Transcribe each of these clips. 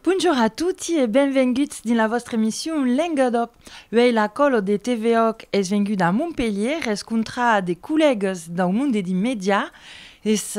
Bonjour a tutti e benvenguts dins la vòstra emission Lenga d'Òc. Uèi la còlo de TV Òc es venguda a Montpelhier rescontrar de collègas dau monde dins media, es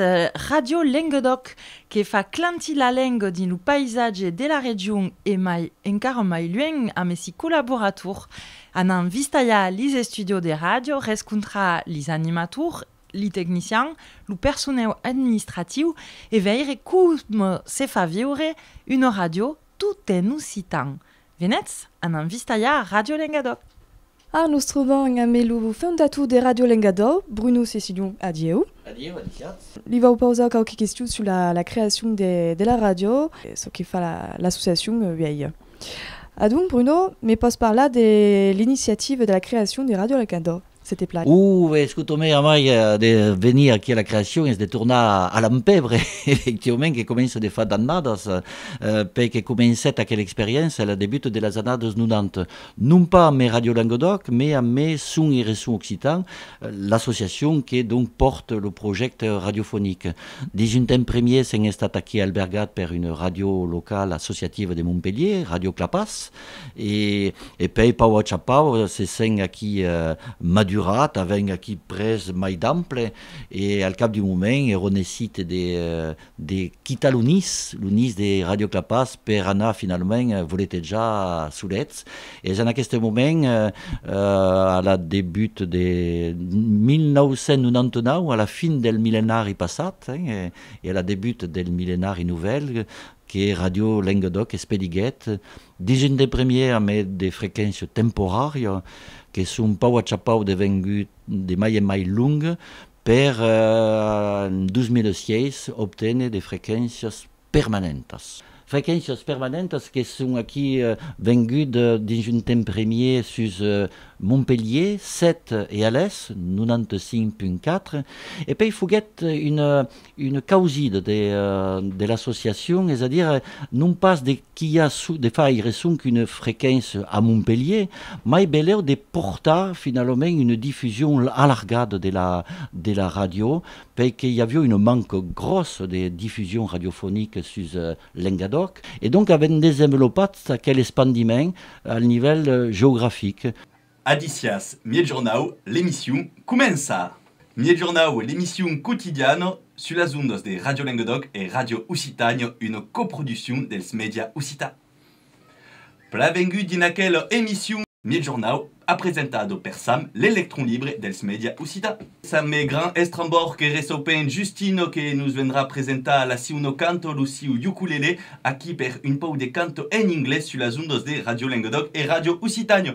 Radio Lenga d'Òc que fa clantir la lenga dins lo païsatge de la region e mai encara mai luènh amb essi collaborator Anam vistalhar lis estudios de ràdio, rescontrar lis animators, li tecnicians, lo personèu administratiu e veire coma se fa viure una ràdio tot en occitan. Venètz, anam vistalhar Ràdio Lengadòu! A nos trobam ambe lo fondator de Ràdio Lengadòu, Bruno Cecilion. Adieu. Adieu, adisiatz. Li vau pausar quauque question sus la creacion de la ràdio, çò que fa l'associacion uèi. Adonc, Bruno, me pòs parlar de l'iniciativa de la creacion de Ràdio Al Cantó, se te plai? O, ben, escota, mai a mai de venir aquí a la creacion es de tornar a Lampèvre, efectivament, que comença de far d'annadas, per que comencèt aquela experiéncia a la debuta de las annadas 90, non pas amé Ràdio Languedoc, mai amé Son e Reson Occitan, l'associacion que donc pòrt lo projècte radiofonic. Dins un temps premier s'en estat aquí albergat per una ràdio locala associativa de Montpelhier, Ràdio Clapàs, e e pei pau a cha pau se s'en aquí madurat, avèn aquí pres mai d'ample e al cap d'un moment ero necite de de quitar lo nis, lo nis de Ràdio Clapàs per anar finalament voletejar solets. Es en aqueste moment, a la debut de 1999, a la fin del millenari passat e a la debut del millenari novèl, que Radio Lenguedoc espediguèt dins un de premièr amé de frequéncia temporària que son pau a chapau devengut de mai en mai long per en 2006 obténer de frequéncias permanentas, frequéncias permanentas que son aquí vengut dins un temps premier sus Montpelhier 7 e alés 95.4 e pei foguèt una causida de l'associacion, es a dire non pas de qu'i a de faire sonque una frequéncia a Montpelhier, mai belèu de portar finalament una difusion alargada de la ràdio per que i avió una manca gròssa de difusion radiofonica sus Lengadòc, e donc avèm desenvelopat aquel espandiment al nivèl geografic. Adicias Miègjornau, l'emission comença! Miègjornau, l'emission quotidiana sus las ondas de Radio Lengadòc e Radio Occitània, una coproduccion dels Mèdia Occitans. Plavengut dins aquela emission. Migjornau a presentado per Sam l'electron libre dels media occitans. Sam me grand estrambòr que ressopen Justino que nos vendrà presentar la siu no canto lo siu ukulele aquí per un pau de canto en inglés sus las ondas de Radio Lengadòc e Radio Occitània.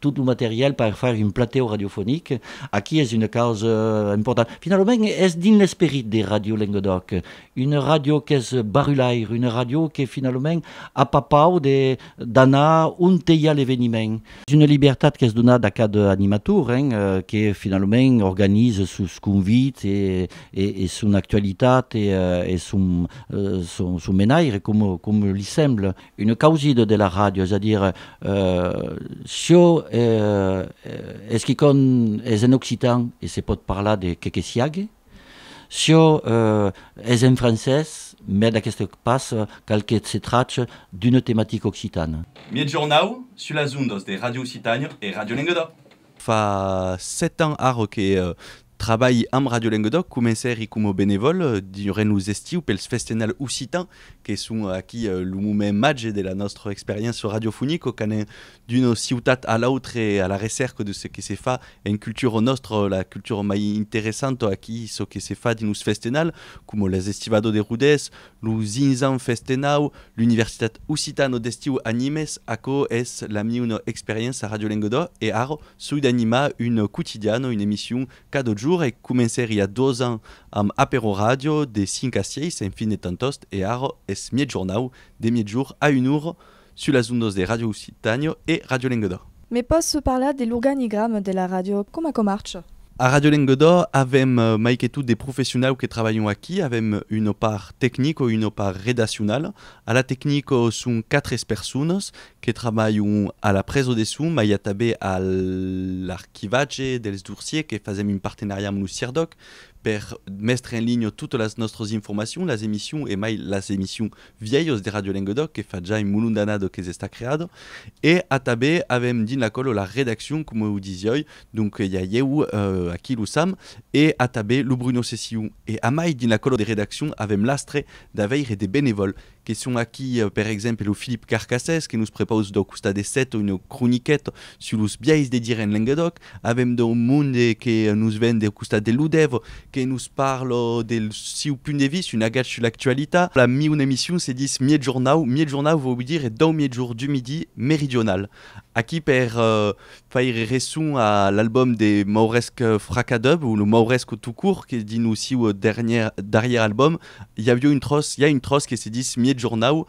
Tot lo material per far un platèu radiofonic, aquí es una causa importanta. Finalament, es dins l'esperit de Radio Lenguedoc, una ràdio qu'es barrulaire, una ràdio que finalament a pas pau de d'anar onte i a l'eveniment. Es una libertat qu'es donada a cada animator, hein, que finalament organiza sos convits e e son actualitat e e son son son menaire, com li sembla. Une causida de la ràdio, es a dire, çò es quicòm es en occitan e se pòt parlar de qué que siague, çò es en francés, mès d'aqueste pas cal que se trache d'una tematica occitana. Miègjornau, sus las ondas de Radio Occitània e Radio Lenguedoc. Fa sèt ans ara que trabalhi amb Radio Lenguedoc. Comencèri coma benevòl durant los estius pels festenals occitans, que son aquí lo moment màger de la nòstra experiéncia radiofonica, quand anem d'una ciutat a l'autre a la recèrca de çò que se fa en cultura nòstra, la cultura mai interessanta aquí, çò que se fa dins los festenals, coma las estivadas de Rodés, Lo Zinzan Festenau, l'Universitat Occitano d'Estiu a Nimes, aquò es la miuna experiença a Radio Lenguedo e ara soi d'animar un quotidiano, una emission cada jour e comencèri a dos ans amb Apero Radio de 5 a 6 en fin de temps tost e ara es miègjornau de miègjor a un ora Sus las ondas de Radio Occitània e Radio Lenguedoc. Me pòs parlar de l'organigrama de la ràdio, coma quò marcha? A Radio Lenguedoc avèm mai que tot de professionau que trabalhon aquí, avèm una part tecnic o una part redaccionala. A la tecnic son quatre personas que trabalhon a la presa de son, mai i a tanben a l'archivatge dels dorsiers que fasèm un partenariat amb lo CIRDOC per mestre en linha totas las nòstras informacions, las emissions e mai las emissions vièlhos de Radio Lenguedoc que fa jai molon d'anado que s'està creado e atabé avèm dins la còlo la redaccion coma o disioi donc i a ieu aqui lo Sam e atabé lo Bruno Ceciu e amai dins la còlo de redaccion avèm l'astre d'aveire de benevòl que son aqui per exemple lo Philippe Carcassès que nos prepaus dau costat de 7 una croniqueta sus los biais de dire en Lenguedoc Avèm d'un monde que nos ven deu costat de Ludev, que nos parla del siu punt de vista, un agatge sus l'actualitat. La miun emission se dis Miègjornau, Miègjornau vòu dire dau miègjorn du midi meridional. Aquí per faire resson a l'album de Mauresc Fracadub, o lo Mauresc tout court, que dins lo siu darrièr album i aviá un tròç, i a un tròç que se dis Miègjornau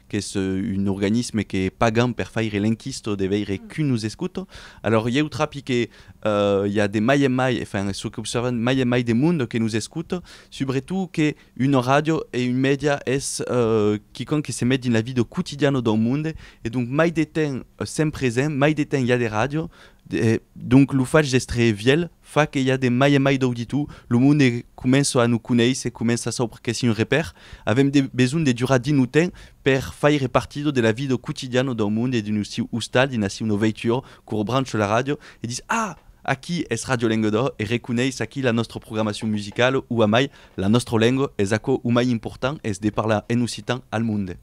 qu'es un organisme que pagan per faire l'enquisto de veire qui nous escoute, alors ieu trapi que i a de mai en mai, enfin çò qu'observan, mai en mai de monde que nous escoute, subretot que una ràdio e un mèdia es quicòm que se met dins la vida quotidiana d'un monde e donc mai de temps sent present, mai de temps i a de ràdio, donc lo fach d'èstre vièlh fa que i a de mai en mai d'auditu, lo monde comença a nos conéisser, comença a saupre qu'es un repèr, avèm de besonh de durar dins lo temps per faire partido de la vida quotidiana dau monde e dins lo siu ostal, dins la siuna veitura, quora brancho la ràdio e dis, Ah! Aquí es Ràdio Lenguedoc e reconeis aquí la nòstra programacion musicala, ua mai, la nòstra lenga es aquò o mai important, es de parlar en occitan al monde.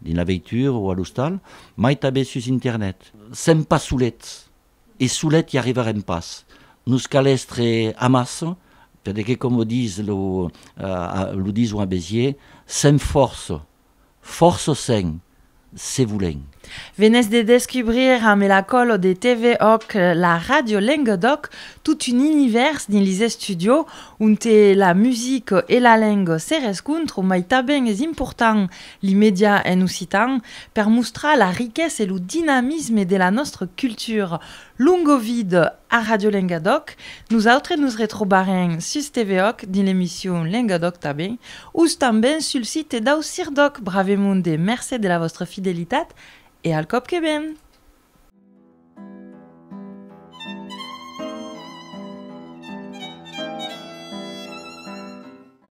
Dins la veitura o a l'ostal, mai tanben sus internet. Sèm pas solets, e solet i arribarem pas. Nos cal èstre amassa, per que coma dis lo lo dison a Béziers, sèm fòrça, fòrça sèm, se volèm. Venètz de descubrir amb la còlo de TV Òc la ràdio lenga d'òc, tot un univèrs dins lis estudios, onte la musica e la lenga se rescontrò, mai tanben es important Li media en occitan per mostrar la riquesa e lo dinamisme de la nòstra cultura. Longo vide a Radio Lengadòc. Nosautres nos retrobarem sus TVOC dins l'emission Lengadòc tanben, ous tanben sul site dau CIRDOC. Bravemonde mercé de la vòstra fidelitat e al còp que ven!